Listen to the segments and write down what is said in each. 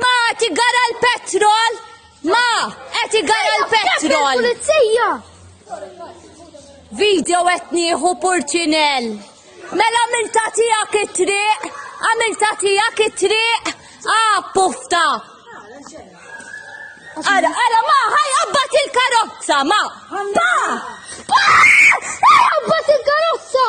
Ma qed igara l-petrol! Ma qed igara l-petrol! Pulizija! Video qed nieħu Purċinell. Mela għamilta tiegħek it-triq, għamilta tiegħek it-triq, ah pufta. Ara, ara, ma, ħaj, abbat il-karozza, ma. Pa! Pa! Ħaj, abbat il-karozza!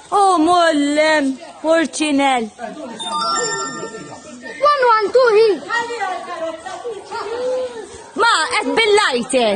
O mollem, porcinel. One, one, two, three. Ma, qed bil-lajter.